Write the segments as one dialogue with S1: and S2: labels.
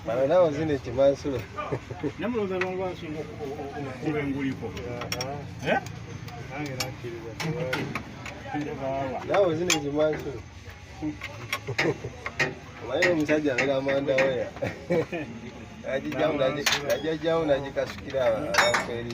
S1: Bano nabo zino ekimansulo. Namuloza
S2: longo asinga okuba enguliko. Eh? Nange nakkiriza
S1: tewali. Nabo zino ekimansulo. Omanyi omusajja abeera amanda weya. Ajijjawo najikasukira abantu eri.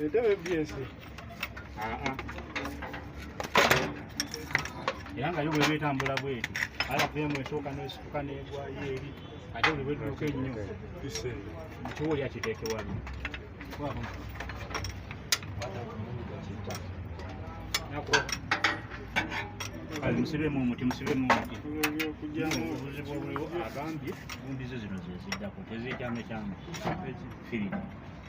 S2: Entebe
S1: ebyese. Ah
S2: ah. Era nga yo bweba etambula bweti. Ala vemu esooka n'esituka n'egwayo eri. Ate buli bwetuuka ennyo. Kiwuli akiteeke wano. Nako. Kale musibemu omuti, musibemu omuti. Obuzibu obuliwo agambye, gumbizo zino zeziddako, tezekyamekyama. Firi.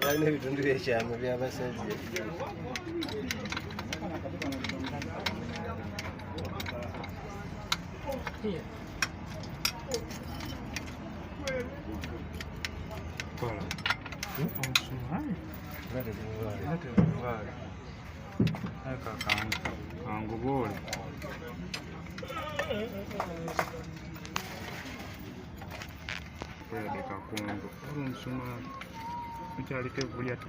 S1: twalina ebitundu byekyama byabasajja
S3: kanguboole Kwelabika Kongo olu nsuma tukyaliko evvu lyattu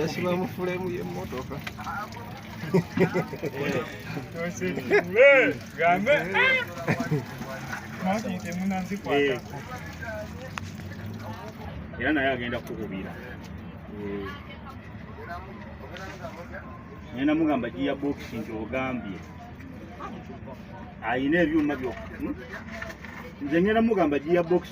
S2: yasiba
S1: mu fulemu
S3: y'emmotoka
S2: era naye agenda kukubira naye namugamba giya bokisi nti ogambye alina ebyuma byokka hmm? nze ngenda mugamba giya bokisi